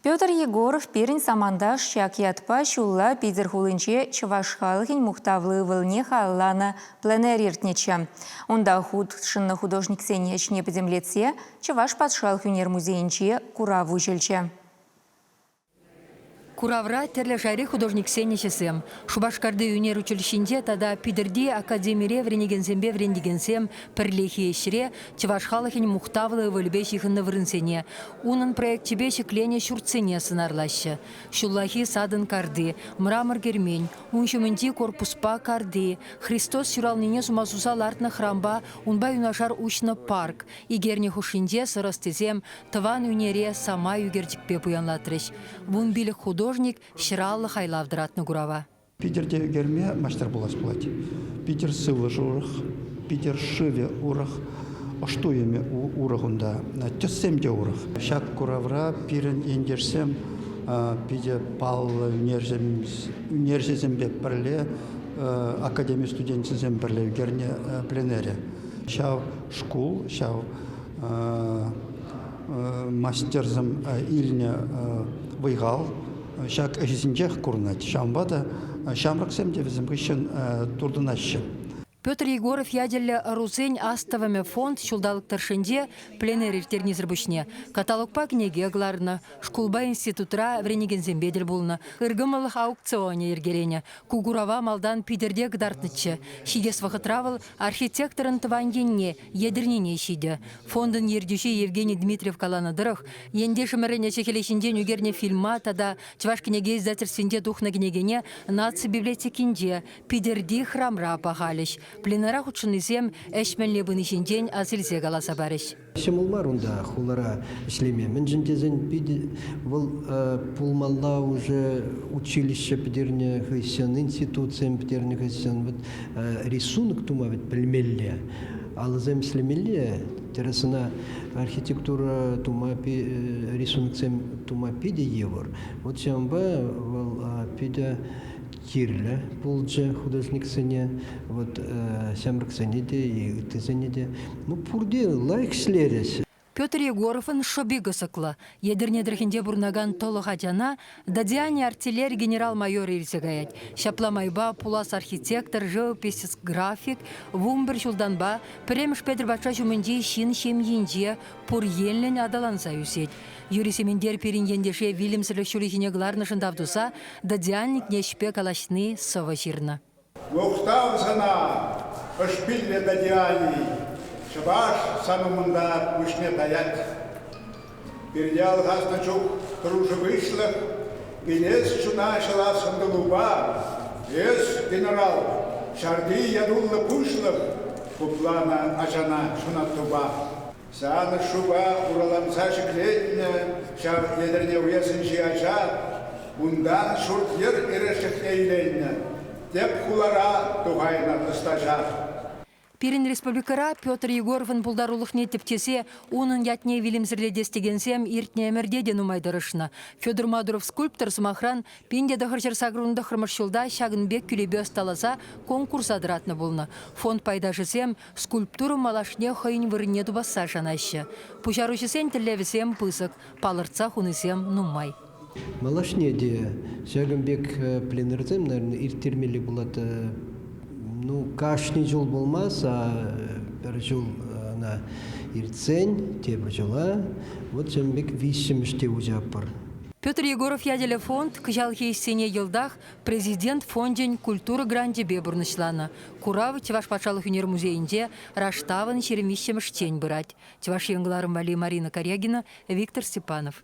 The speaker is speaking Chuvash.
Петр Егоров пирӗн саманташ ҫак ятпа ҫулла Питӗр хулинче чӑваш халӑхӗн мухтавлӑ ывӑлне халалланӑ пленэр иртнӗччӗ. Унта хутшӑннӑ художниксен ӗҫне пӗтӗмлетсе Чӑваш патшалӑх ӳнер музейӗнче курав уҫӑлчӗ. Куравра тӗрлӗ шайри художниксен ӗҫӗсем, Шупашкарти ӳнер училищинче тата Питӗрти академире вӗренекенсемпе вӗрентекенсем пӗрлехи ӗҫре чӑваш халӑхӗн мухтавлӑ ывӑлӗпе ҫыхӑннӑ вырӑнсене, унӑн проекчӗпе ҫӗкленӗ ҫуртсене сӑнарлаҫҫӗ. Ҫуллахи садӑн карти, Мрамор кермен, ун ҫумӗнчи корпуспа карти, Христос ҫуралнине сума суса лартнӑ хрампа унпа юнашар уҫнӑ парк, икерне хушшинче сӑр ӑстисем тӑван ӳнере самай ӳкерчӗкпе пуянлатрӗҫ. Вун пилӗк художник ҫӗр аллӑ хайлав тӑратнӑ курава. Питӗрте ӳкерме маҫтар пулас пулать. Питӗр сывлӑш урӑх, питӗр шывӗ урӑх, ӑш туйӑмӗ урӑх унта, тӗссем те урӑх. Ҫак куравра пирӗн ентешсем питӗ паллӑ ӳнерҫӗсемпе пӗрле, академи студенчӗсем пӗрле ӳкернӗ пленэрӗ. Ҫав шкул, ҫав мастерсем илнӗ вӑй-хал Ҫак ӗҫӗсенчех курӑнать. Ҫавӑнпа та ҫамрӑксем те вӗсем хыҫҫӑн туртӑнаҫҫӗ. Петр Егоров ятеллӗ ӑрусен астӑвӑмӗ фонд ҫулталӑк тӑршшӗнче пленэр ирттернисӗр пуҫне каталогпа кӗнеке кӑларнӑ, шкулпа институтра вӗренекенсемпе тӗл пулнӑ, ыркӑмӑллӑх аукционӗ йӗркеленӗ. Ку курава малтан Питӗрте кӑтартнӑччӗ. Ҫитес вӑхӑтра вӑл Архитекторӑн тӑван енне, Етӗрнене ҫитӗ. Фондӑн ертӳҫи Евгений Дмитриев каланӑ тӑрӑх, ентешӗмӗрӗн ӗҫӗ-хӗлӗ ҫинчен ӳкернӗ фильма тата Чӑваш кӗнеке издательствинче тухнӑ кӗнекене Наци библиотекинче, Питӗрти храмра пахалӗҫ. Пленара хутшӑннисем ӗҫ мӗнле пыни ҫинчен асилсе каласа парӗҫ. Ҫӑмӑл мар унта хулара ӗҫлеме, мӗншӗн тесен питӗ вӑл пулмалла уже училище пӗтернӗ хыҫҫӑн, институтсем пӗтернӗ хыҫҫӑн вот, рисунок тума вӗт пӗлмелле, алӑсем ӗҫлемелле, тӗрӗс ӑна архитектура тума, рисуноксем тума питӗ йывӑр. Вот ҫавӑнпа вӑл питӗ кирлӗ пулчӗ художниксене, вот ҫамрӑксене те и ыттисене те. Ну, пурте лайӑх ӗҫлерӗҫ. Петр Егоровӑн шӑпи кӑсӑклӑ. Етӗрне тӑрӑхӗнче пурӑнакан тӑлӑх ачана Дадиани артиллери генерал-майорӗ илсе каять. Ҫапла майпа пулас архитектор, живопись, график, вунпӗр ҫултанпа пӗрремӗш Петӗр патша ҫумӗнчи ҫын ҫемйинче Пур енлӗн аталанса ӳсет. Юрий Сементер пирӗн ентеше вилӗмсӗрлӗх ҫулӗхине кӑларнӑшӑн тав туса Додиальникне ӗҫпе калаҫни сӑвӑ ҫырнӑ. Мухтав сана, ӑшпиллӗ Додиалий, чӑваш сан умӑнта пуҫне таять. Пирте алхаснӑ чух дружбышлӑх, илес чуна ҫӑлас ӑнтӑлупа эс, генерал, ҫарти ятуллӑ пуҫлӑх, хупланӑ ачана ҫунаттупа. Савӑт-шупа ураланса ҫӗклетнӗ ҫав Етӗрне уесӗнчи ача. Унтан ҫурт-йӗр эрешлекне иленнӗ тӗп хулара тухайнӑ хӑстаҫа. Пирӗн республикӑра Петр Егоровӑн пултарулӑхне тӗпчесе унӑн ятне вилӗмсӗрлетес текенсем иртнӗ ӗмӗрте те нумай тӑрӑшнӑ. Федор Мадуров скульптор, сӑмахран, пин те тӑхӑрҫӗр сакӑрӑн тӑххӑрмӗш ҫулта ҫакӑн пек кӳлепе ӑсталаса конкурса тӑратнӑ пулнӑ. Фонд пайташӗсем Скульптура малашне хӑйӗн вырӑнне тупасса шанаҫҫӗ. Пуҫаруҫӑсен тӗллевӗсем пысӑк, палӑртса хунисем нумай. Малашне те ҫакӑн пек пленэрсем, наверное, ирттермелли пулать. Ну, кашни ҫул пулмасть, а пӗр ҫул ӑна иртсен тепӗр ҫула вот ҫакӑн пек виҫҫӗмӗш те уҫатпӑр. Петр Егоров ячӗллӗ фонд кӑҫалхи ӗҫсене йӑлтах Президент фончӗн культура гранчӗпе пурнӑҫланӑ курав Чӑваш патшалӑх ӳнер музейӗнче раштавӑн ҫирӗм виҫҫӗмӗш тен пырать, Чӑваш Ен кӑларӑм валли Марина Корягина, Виктор Степанов.